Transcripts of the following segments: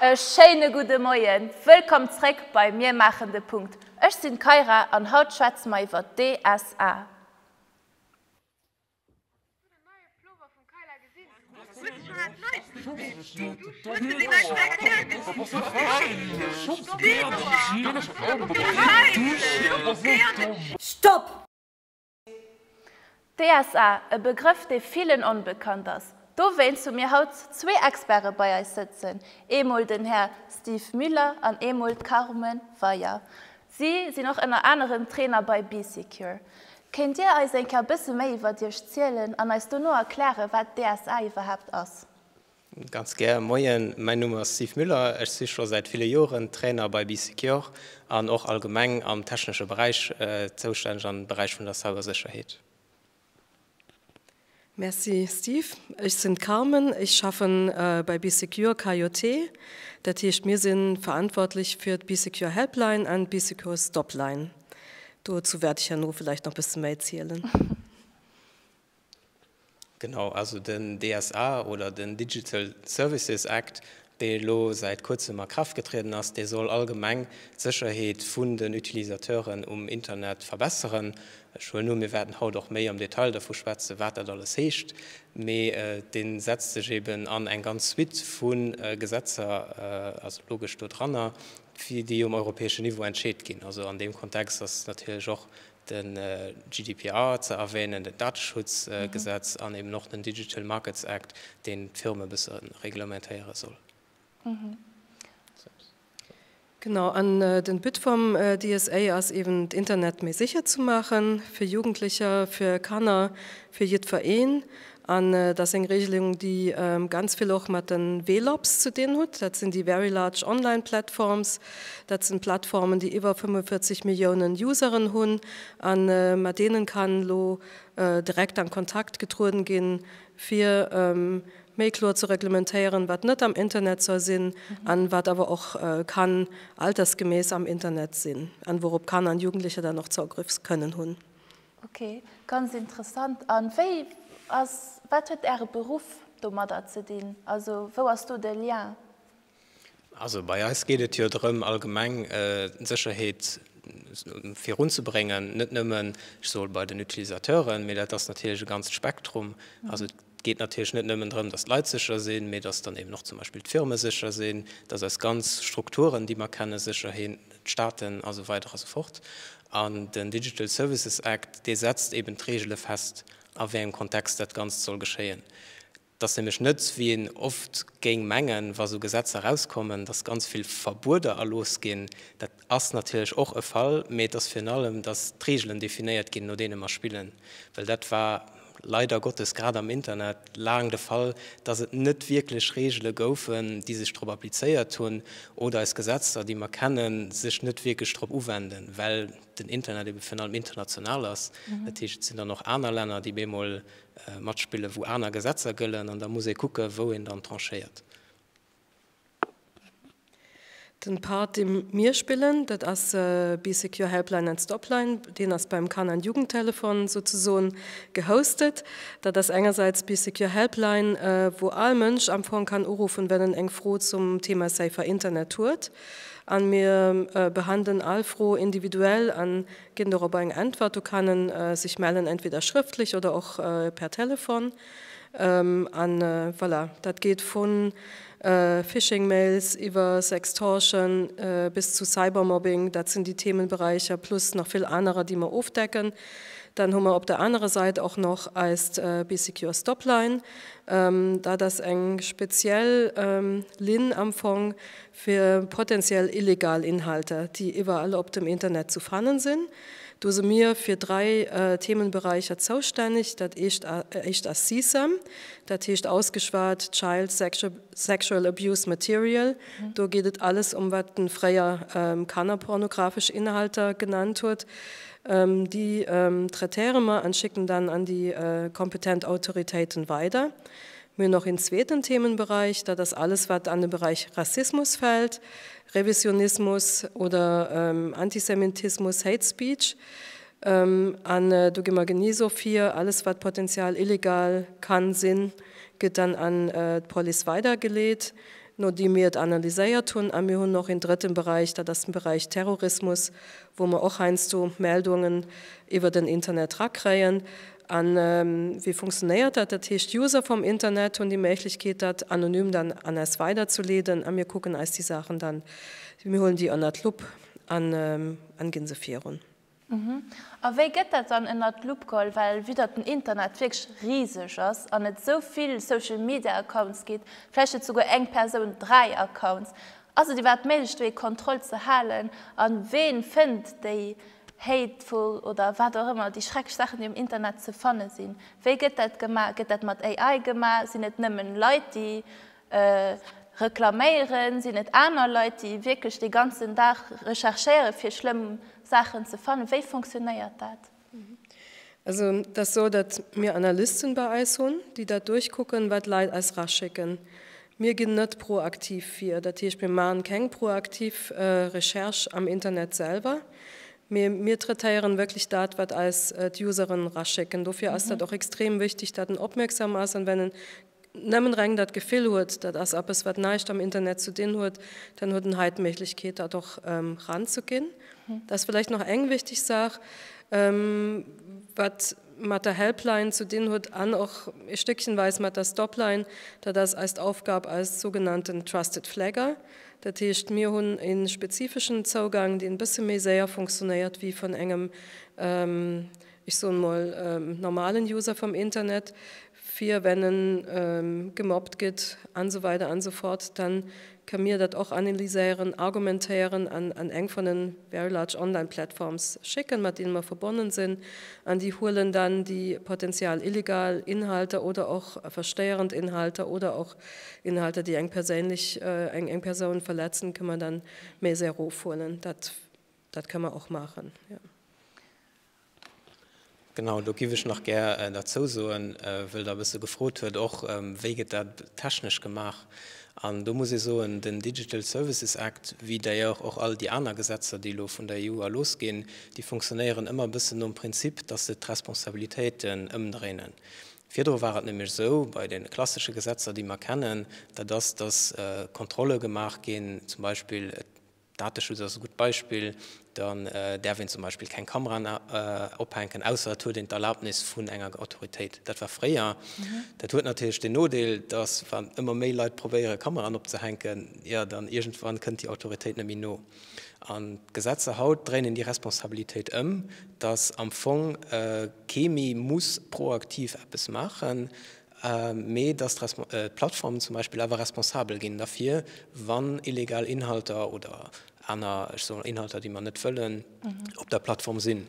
E schéine gudde Moien, wëllkomm zréck bei Mir maachen de Punkt. Ech sinn d'Kyra an haut schwätze mer iwwer d'DSA. Stopp! DSA, e Begrëff dee villen onbekannt ass, dowéinst hu mir haut zwee Experte bei eis sëtzen, eemol den Här Steve Müller an eemol d'Carmen Weyer. Si sinn och ënner anerem Trainer bei Bee Secure. Kéint Dir eis eng Kéier e bësse méi iwwert Iech zielen an eis dono erklären, wat DSA iwwerhaapt ass? Ganz gär. Moien, mäin Numm ass Steve Müller. Ech si scho säit ville Joren Trainer bei Bee Secure an och allgemeng am technesche Beräich zoustänneg am Beräich vun der Cybersécherheet. Merci Steve. Ech sinn d'Carmen. Ech schaffen bei Bee Secure KJT. Dat heescht mir si verantwortlech fir d'Bee Secure Helpline an d'Bee Secure Stopline. Dozou wäert ech herno vläicht nach bësse méi zielen. Genau, also den DSA oder den Digital Services Act, dee elo säit kuerzem a Kraaft getrieden ass, dee soll allgemeng d'Sécherheet vun den Utilisateuren um Internet verbesseren. Ech huelen un, mir wäerten haut och méi am Detail dervu schwätzen, wat dat alles heescht. Mee dee setzt sech eben an eng ganz Suite vu Gesetzer, also logesch, dodranner, déi um europäeschen Niveau entscheet ginn. Also an deem Kontext ass natierlech och de GDPR ze erwänen, den Dateschutzgesetz an eben och den Digital Markets Act, deen d'Firme e bësse reglementéiere soll. Genau, an den But vum DSA ass eben d'Internet méi sécher ze maachen, fir Jugendlecher, fir Kanner, fir jiddwereen. An et ass eng Regelung, déi ganz vill och mat de Vlops ze dinn hutt. Dat sinn déi very large online platforms. Dat sinn d'Plattformen, déi iwwer 45 Milliounen Useren hunn. A mat deenen kann elo direkt an Kontakt getrueden ginn, fir méi kloer ze reglementéieren, wat net am Internet soll sinn a wat awer och kann altersgemäss am Internet sinn, a wourop Kanner an Jugendlecher dann och Zougriffe kënnen hunn. Ok, ganz interessant. An wéi ass, wat huet Äre Beruff domadder ze dinn? Also wou ass do de Lien? Also bei eis geet et jo drëm allgemeng d'Sécherheet virun ze bréngen, net nëmmen, ech soe bei den Utilisateuren, mee dat ass natierlech e ganzt Spektrum. Also. Et geet natierlech net nëmmen drëm, dass d'Leit sécher sinn, mee dass dann eben och zum Beispill d'Firme sécher sinn, dass eis ganz Strukturen, déi mer kennen, sécher hin, d'Staaten a sou weider a sou fort. An den Digital Services Act, dee setzt eben d'Reegele fest, a wéi engem Kontext dat Ganzt soll geschéien. Et ass nämlech net, wéi een oft géing mengen, wa sou Gesetzer erauskommen, dass ganz vill Verbueder erlooss ginn, dat Ass natierlech och e Fall, mee et ass virun allem, dass d'Reegelen definéiert ginn, no deene mer spillen. Well dat war leider Gottes grad am Internet laang de Fall, dass et net wierklech Reegele goufen, déi sech drop applizéiert hunn, oder eis Gesetzter, déi mer kennen, sech net wierklech drop uwenden, well den Internet ebe virun allem international ass. Dat heescht, et sinn dann och aner Länner, déi bemol matspillen, wou aner Gesetzer gëllen, an da muss ee kucken, wou een dann tranchéiert. Den Part deen mir spillen dat ass Bee Secure Helpline and Stopline. Deen ass beim Kanner and Jugendtelefon souzesoen gehostet. Dat ass engersäits Bee Secure Helpline wou all Mënsch am Fong kann uruffen well en eng Fro zum Thema safer Internet huet. An mir behandelen all Fro individuell an ginn dorobber eng Äntwert. Do kann en sech mellen entweder schrëftlech oder och per Telefon. An voilà, dat geet vu Phishing-Mails iwwer Sextortion bis zu Cybermobbing, dat sinn déi Themenberäicher, plus nach vill anerer, déi mer ofdecken. Dann hu mer op der anerer Säit och nach eist Be Secure Stopline. Dat ass eng speziell Linn am Fong fir potentiell illegal Inhalter, déi iwwerall op dem Internet ze fannen sinn, Do se mir fir dräi Themenberäicher zoustänneg, dat éischt ass CSAM, dat heescht ausgeschwat Child Sexual Abuse Material. Do geet et alles ëm, wat en fréier kannerpornografesch Inhalter genannt huet. Déi traitéiere mer an schécken dann an déi kompetent Autoritéiten weider. Mir hunn och een zweeten Themenberäich, dat ass alles, wat an de Beräich Rassismus fält. Revisionismus oder Antisemitismus, Hate Speech. An do gi mer genee esou vir. Alles wat potenzial illegal ka sinn, gëtt dann an d'Police weidergeleet, nodeem mir et analyséiert hunn. A mir hunn och een drëtten Beräich, dat ass den Beräich Terrorismus, wou mer och heiansdo Meldungen iwwer den Internet rakréien. A wéi funktionéiert dat? Dat heescht, d'User vum Internet hunn déi Méiglechkeet, dat anonym dann an eis weiderzeleeden a mir kucken eis déi Saachen dann, mir huelen déi ënnert d'Lupp an ginn se virun. A wéi gëtt dat dann ënnert d'Lupp geholl? Well vue datt den Internet wierklech riseg ass an et esou vill Social Media Accounts gétt, vläicht huet souguer eng Persoun dräi Accounts, ass et iwwerhaapt méiglech do ee Contrôle ze halen? A ween fënnt déi Hateful oder wat och ëmmer, déi schrecklech Saachen, déi um Internet ze fanne sinn. Wéi gëtt dat gemaach? Gëtt dat mat AI gemaach? Sinn et nëmmen Leit, déi reklaméieren? Sinn et aner Leit, déi wierklech dee ganzen Dag recherchéieren, fir schlëmm Saachen ze fannen? Wéi funktionéiert dat? Also et ass esou, datt mir Analysten bei eis hunn, déi dat duerchkucken, wat d'Leit eis eraschécken. Mir ginn net proaktiv vir, dat heescht, mir maachen keng proaktiv Recherche am Internet selwer, mee mir traitéieren wierklech dat, wat eis d'Useren eraschécken. Dofir ass dat och extrem wichtig, datt en opmierksam ass an wenn en nëmmen reng dat Gefill huet, dat ass eppes wat näischt am Internet ze dinn huet, dann huet en hei d'Méiglechkeet dat och ranzeginn. Dat ass vläicht nach eng wichteg Saach wat mat der Helpline ze dinn huet an och e Stéckchenweis mat der Stopline, dat ass eist Aufgab als sougenannten Trusted Flagger. Dat heescht mir hunn e spezifeschen Zougang deen e bësse méi séier funktionéiert wéi vun engem, ech soen emol, normalen User vum Internet, fir wenn en gemappt gëtt an esou weider an esou fort, dann ka mir dat och analyséieren, argumentéieren an an eng vun en very large online platforms schécken, mat deene mer verbonnen sinn, an déi huelen dann déi potenzial illegal Inhalter oder och verstéierend Inhalter oder och Inhalter, déi eng perséinlech eng eng Persoun verletzen, kënne mer dann méi séier erofhuelen. Dat dat ka mer och maachen, jo. Genau, do giff ech nach gär derzou soen, wëll der e bësse gefrot huet och, wéi gëtt dat technesch gemaach. An do muss ee soen, den Digital Services Act, wéi d'ailleurs och all déi aner Gesetzer, déi elo vun der EU erlooss ginn, déi funktionéieren ëmmer e bëssen nom Prinzip, dass se d'Responsabilitéiten ëmdréinen. Virdru war et nämlech esou, bei deene klassesche Gesetzer, déi mer kennen, dat ass, dass Kontrolle gemaach ginn, zum Beispill, Dateschutz ass e gutt Beispill. Dann däerf een zum Beispill keng Kameraen ophänken, ausser et huet een d'Erlaabnis vun enger Autoritéit. Dat war fréier. Dat huet natierlech den Nodeel, dass, wann ëmmer méi Leit probéiere Kameraen opzehänken, jo dann iergendwann kënnt déi Autoritéit net méi no. An d'Gesetzer haut dréinen déi Responsabilitéit ëm, dass am Fong kee méi muss proaktiv eppes maachen, mee dass d'Plattformen zum Beispill awer responsabel ginn derfir, wann illegal Inhalter oder aner, ech soe mer, Inhalter, déi mer net wëllen, op der Plattform sinn.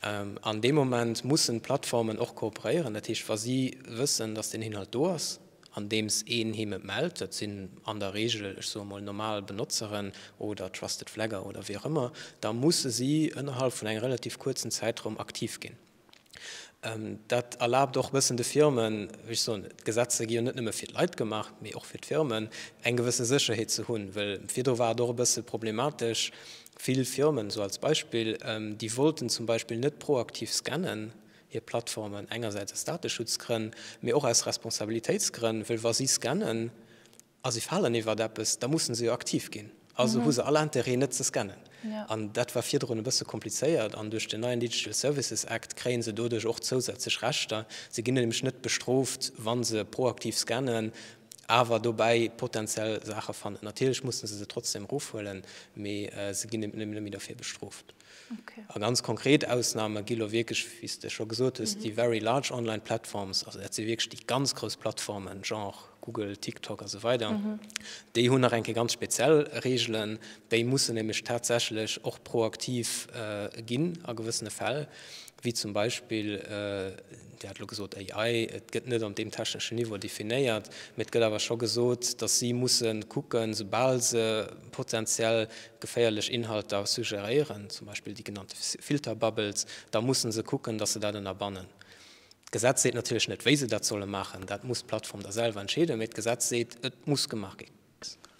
An deem Moment mussen d'Plattformen och kooperéieren, dat heescht, wa si wëssen, dass deen Inhalt do ass, andeems een him et mellt, dat sinn an der Reegel, ech soe mol, normal Benotzeren oder Trusted Flagger oder wéi och ëmmer, da musse si ënnerhalb vun engem relativ kuerzen Zäitraum aktiv ginn. Dat erlaabt och e bëssen de Firmen, wéi ech soen, d'Gesetze gi jo net nëmme fir d'Leit gemaach, mee och fir d'Firmen, eng gewësse Sécherheet ze hunn. Well virdru war et och e bësse problematesch, vill Firmen, esou als Beispill, déi wollten zum Beispill net proaktiv scannen, hir Plattformen, engersäits aus Dateschutzgrënn, mee och aus Responsabilitéitsgrënn, well wa si scannen, A si falen iwwert eppes, da musse se jo aktiv ginn. Also hu se all Interêt, net ze scannen. An dat war virdrun e bësse komplizéiert. An duerch den neien Digital Services Act kréie se doduerch och zousätzlech Rechter. Se ginn nämlech net bestrooft, wa se proaktiv scannen, awer dobäi potenziell Saache fannen. Natierlech musse se se trotzdem erofhuelen, mee se ginn net méi dofir bestrooft. A ganz konkret Ausname gi lo wierklech, wéi s de scho gesot hues, déi very large online platforms, also dat si wierklech déi ganz grouss Plattformen, genre Google, TikTok a sou weider. Déi hunn nach eng Kéier ganz speziell Reegelen. Déi mussen nämlech tatsächlech och proaktiv ginn a gewëssene Fäll, wéi zum Beispill, Dir hat elo gesot AI, et gëtt net op deem techneschen Niveau definéiert, mee et gëtt awer scho gesot, datt si musse kucken, esoubal se potenziell geféierlech Inhalter suggeréieren, zum Beispill déi genannte Filterbubbles, da musse se kucken, datt se dat ënnerbannen. D'Gesetz seet natierlech net, wéi se dat solle maachen, dat muss d'Plattform da selwer entscheeden, mee d'Gesetz seet, et muss gemaach ginn.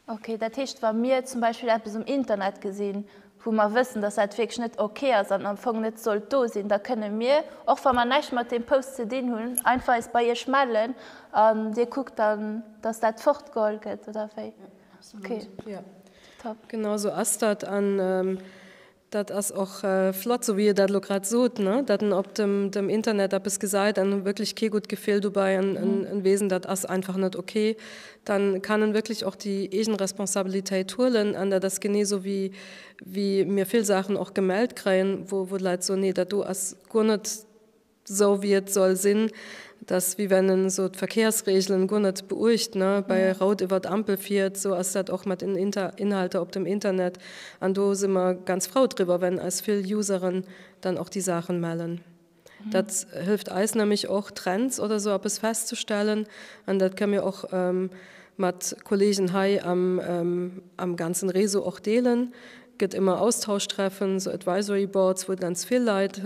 Ok, dat heescht, wa mir zum Beispill eppes um Internet gesinn, wou mer wëssen, dass dat wierklech net ok ass an am Fong net sollt do sinn, da kënne mir, och wa mer näischt mat deem Post ze dinn hunn, einfach eis bei Iech mellen an Dir kuckt dann, dass dat fortgeholl gëtt, oder wéi? Ok, top. Genau esou ass dat. Dat ass och flott, sou wéi e dat elo grad sot, datt en op dem Internet eppes gesäit an huet wierklech kee gutt Gefill dobäi an e weess en dat ass einfach net ok. Da kann en wierklech och déi eegen Responsabilitéit huelen an dat ass genee sou wéi mir vill Saachen och gemellt kréien, wou d'Leit soen, nee dat do ass guer net, Sou wéi et soll sinn, dass wie wenn en sou d'Verkehrsregelen guer net beuecht, ne, bei rout iwwer d'Ampel fiert, sou ass dat och mat den Inhalter op dem Internet. An do si mer ganz frou driwwer, wenn eis vill Useren dann och déi Saachen mellen. Dat hëlleft eis nämlech och Trends oder sou eppes festzestellen an dat kënne mir och mat Kollegen hei am ganzen Réseau och deelen. gëtt ëmmer Austauschtreffen, sou Advisory Boards, wou ganz vill Leit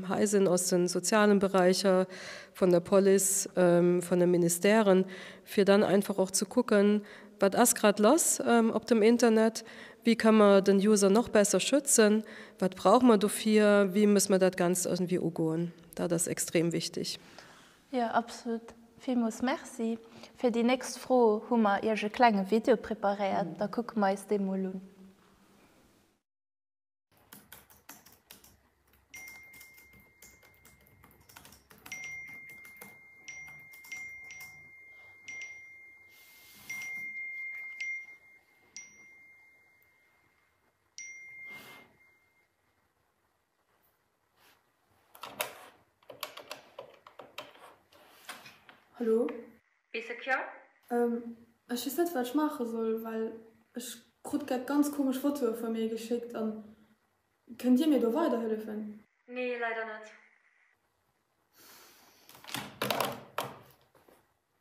hei sinn aus de sozialen Beräicher, vun der Police, vun de Ministèren, fir dann einfach och ze kucken, wat ass grad lass op dem Internet, wéi kënne mer den User nach besser schützen, wat brauche mer dofir, wéi muss mer dat Ganzt irgendwie ugoen. Dat ass extrem wichtig. Jo absolut. Villmols Merci. Fir déi nächst Fro hu mer iech e klenge Video preparéiert, da kucke mer eis dee mol un. Hallo? Bis e Kjall? Ehm, ech wees net waat ech maachen soll, well ech krutt grad ganz komesch Fotoen vun mir geschéckt an kënnt dir mir do weider hëllefen? Nee, leider net.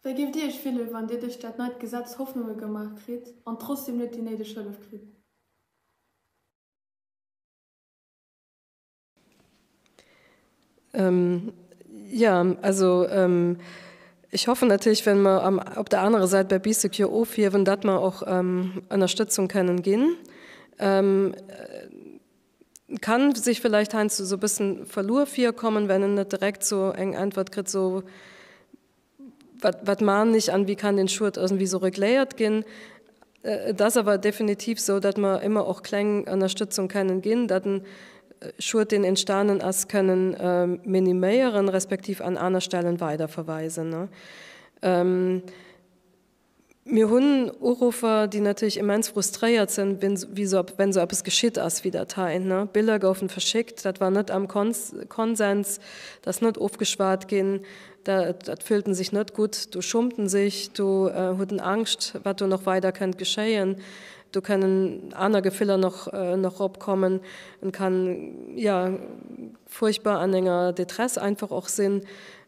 Wei géif dir iech fillen wann dir duerch daat neit Gesetz Hoffnungen gemaach kritt an trotzdem net déi néideg Hëllef kritt? Jo, also ech hoffen natierlech, well mer op der anerer Säit bei Bee Secure ofhiewen, datt mer och Ënnerstëtzung kënnen ginn. Et ka sech vläicht heiansdo esou e bësse verluer virkommen, well een net direkt esou eng Äntwert kritt, esou, Wat, wat man ich an wie kann den Schued irgendwie so regléiert ginn? Et ass awer definitiv sou, datt mer émmer och kleng Ënnerstëtzung kennen ginn, datt en Schued deen entstanen ass kënnen miniméieren, respektiv an aner Stellen weiderverweisen. Mir hunn Uruffer, déi natierlech immens frustréiert sinn, wenn esou eppes geschitt ass wéi dat hei. Biller goufen verschéckt, dat war net am Konsens, dat ass net ofgeschwat ginn, dat fühlten sech net gutt, do schumten sech, do huet en Angscht, wat do nach weider kënnt geschéien. Do kënnen aner Gefiller nach opkommen. En kann, jo, furchtbar an enger Détresse einfach och sinn.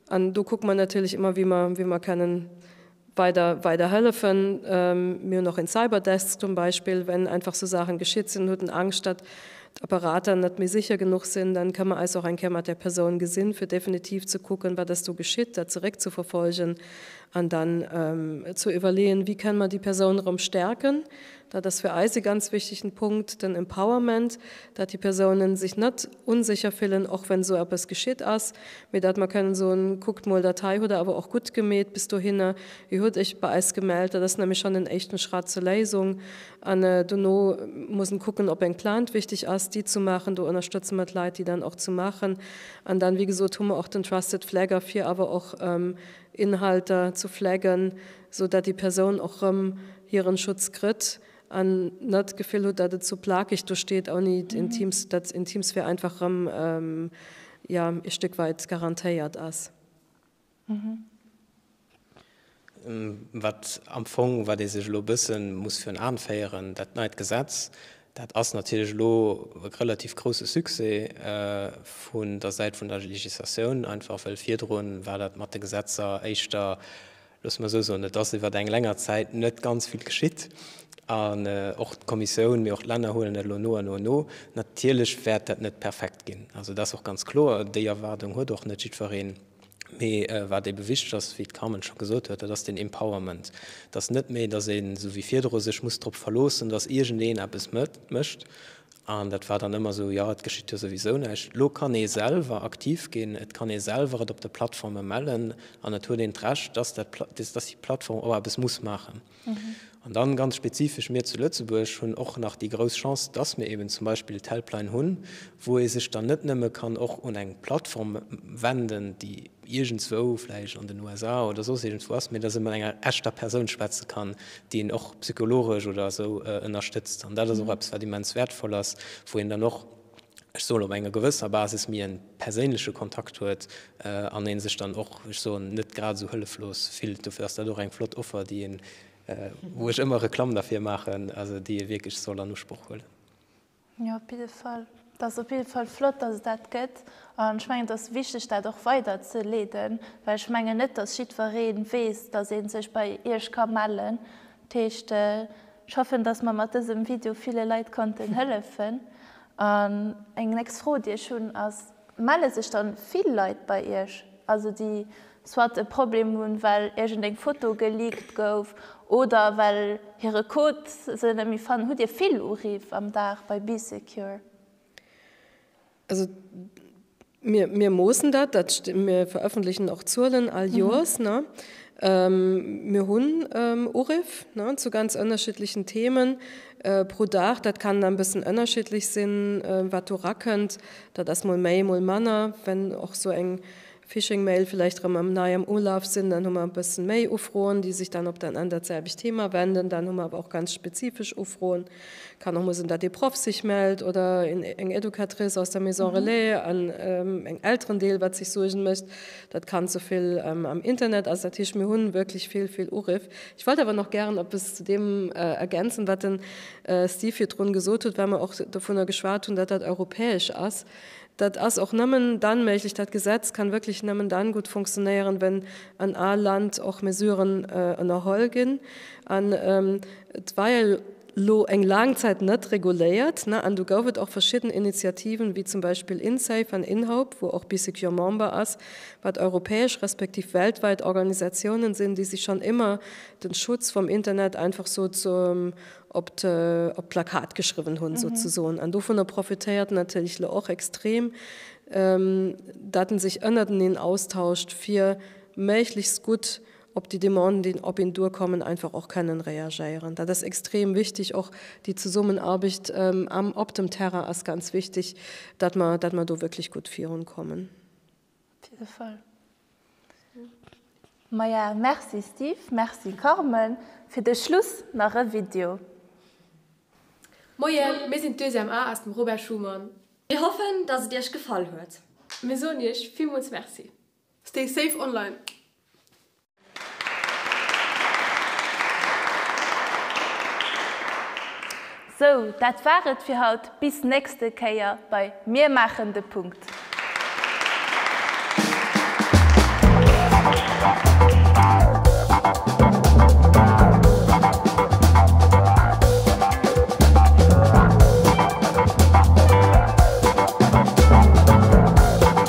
An do kucke mer natierlech ëmmer, wéi mer kënnen Weider, weider hëllefen. Mir hunn och een Cyberdesk zum Beispill, wenn einfach sou Saachen geschitt sinn, hutt en Angscht dat d'Apparater net méi sicher genuch sinn, dann kënn mer eis och eng Kéier mat där Persoun gesinn fir definitiv ze kucken wat ass do geschitt, dat zeréck ze verfolgen an dann ze iwwerleeën wéi kënn mer déi Persoun erëm stärken. Dat ass fir eis ee ganz wichtegen Punkt, den Empowerment, dat déi Persounen sech net unsécher fillen, och wenn esou eppes geschitt ass, mee dat mer kënnen soen, kuckt mol, dat hei hutt der awer och gutt gemeet bis dohinne, Dir hutt Iech bei eis gemellt. Dat ass nämlech schonn en éischten Schratt zur Léisung an dono muss en kucken, ob eng Plainte wichteg ass, déi zu maachen. Do ënnerstëtze mer d'Leit, déi dann och zu maachen an dann, wéi gesot, hu mer och den Trusted Flagger, fir awer och Inhalter zu flaggen, sou dat déi Persoun och rëm hiren Schutz krëtt an net d'Gefill hutt dat et sou plakeg do steet ouni d'Intimsphär, dat d'Intimsphär einfach rëm jo ee Stéck weit garantéiert ass. Wat am Fong, wat ee sech elo e bësse muss virun Aen féieren, dat neit Gesetz, dat ass natierlech elo e relativ grousse Succès vun der Säit vun der Législatioun, einfach well virdrun war dat mat de Gesetzer éischter Loosse mer esou soen, et ass iwwert eng länger Zäit net ganz vill geschitt. An och d'Kommissioun, mee och d'Länner huelen dat elo no a no an no. Natierlech wäert dat net perfekt ginn, also dat ass och ganz kloer. Déi Erwaardung huet och net jiddwereen. Mee wat ebe wichteg ass, wéi d'Carmen scho gesot huet, dat ass den Empowerment, dass net méi, dass ee sou wéi virdru sech muss drop verloossen, dass iergendeen eppes mécht An dat war dann ëmmer esou, jo et geschitt jo souwisou näischt. Elo kann ee selwer aktiv ginn, et kann ee selwer et op de Plattforme mellen an et huet een d'Recht, dass dat, dass déi Plattform och eppes muss maachen. An dann ganz spezifesch, mir zu Lëtzebuerg hunn och nach déi grouss Chance, dass mir eben zum Beispill d'Helpline hunn, wou ee sech dann net nëmme kann och un eng Plattform wenden, déi, iergendswou vläicht an den USA oder soss iergendswou ass, mä datt ee mat enger echter Persoun schwätze kann, déi een och psychologesch oder esou ënnerstëtzt. An dat ass och eppes, wat immens wäertvoll ass, wou een dann och, ech soen, op enger gewësser Basis méi en perséinleche Kontakt huet an ee sech dann och, ech soen, net grad esou hëlleflos fillt. Dofir ass dat och eng flott Offer, déi een, wou ech ëmmer Reklamm derfir maachen, also déi ee wierklech soll an Usproch huelen. Jo, op jidde Fall. Et ass op jidde Fall flott, dass et dat gëtt. An ech mengen, et ass wichteg, dat och weiderzeleeden, well ech mengen net, dass jiddweree weess, dass ee sech bei Iech ka mellen. Dat heescht, ech hoffen, dass mer mat dësem Video ville Leit konnten hëllefen. An eng nächst Fro, déi ech hunn, ass, Melle sech dann vill Leit bei Iech, also déi soit e Problem hunn, well iergendeng Foto geleakt gouf oder well hire Code se net méi fannen? Hutt Dir vill Uriff am Dag bei BeeSecure? Also mir, mir moossen dat, dat, mir verëffentlechen och Zuelen all Joers. Mir hunn Uriff zu ganz ënnerschiddlechen Themen pro Dag. Dat kann dann e bëssen ënnerschiddlech sinn, wat do rakënnt. Dat ass mol méi, mol manner, wenn och esou eng Phishing Mail vielleicht erem am neiem Ulauf sin, dann hun mer e bessen méi Ufroen déi sech dann op dann ändert selbicht Thema wenden, dann hun mer awer och ganz spezifesch Ufroen, kann och mol sen dat ee Proff sech mellt oder een eng Educatrice aus der Maison Relais an eng Elterendeel wat sech Suergen mecht dat Kand souvill am Internet ass. Dat heescht mir hun wirklech vill vill Uriff. Ech wollt awer nach gären eppes zu deem ergänzen wat den Steve virdrun gesot huet, well mer och dovunner geschwat hun dat dat europäesch ass. Dat ass och nëmmen dann méiglech, dat Gesetz kann wierklech nëmmen dann gutt funktionéieren, wenn an all Land och Mesuren ënnerholl ginn. An et war jo elo eng laang Zäit net reguléiert, an du gouf et och verschidden Initiativen, wéi zum Beispill Insafe an Inhope, wou och BeeSecure Member ass, wat europäesch respektiv weltwäit Organisatiounen sinn, déi sech schonn ëmmer de Schutz vum Internet einfach sou zum op d'Plakat geschriwwen hunn souzesoen. An dovunner profitéiert en natierlech elo och extrem, datt en sech ënnerteneen austauscht, fir méiglechst gutt op déi Demanden, déi op een duerkommen, einfach och kënnen reagéieren. Dat ass extrem wichteg. Och déi Zesummenaarbecht am, op dem Terrain ass ganz wichteg, datt mer, datt mer do wierklech gutt virunkommen. Op jidde Fall. Maja, merci Steve, merci Carmen. Fir de Schluss nach e Video. Moien, mir sinn d'Deuxième A aus dem Robert Schuman. Mir hoffen, dass et iech gefall huet. Mir soen iech villmools Merci. Stay safe online! Sou, dat war et fir haut. Bis nächste Kéier bei Mir maachen de Punkt.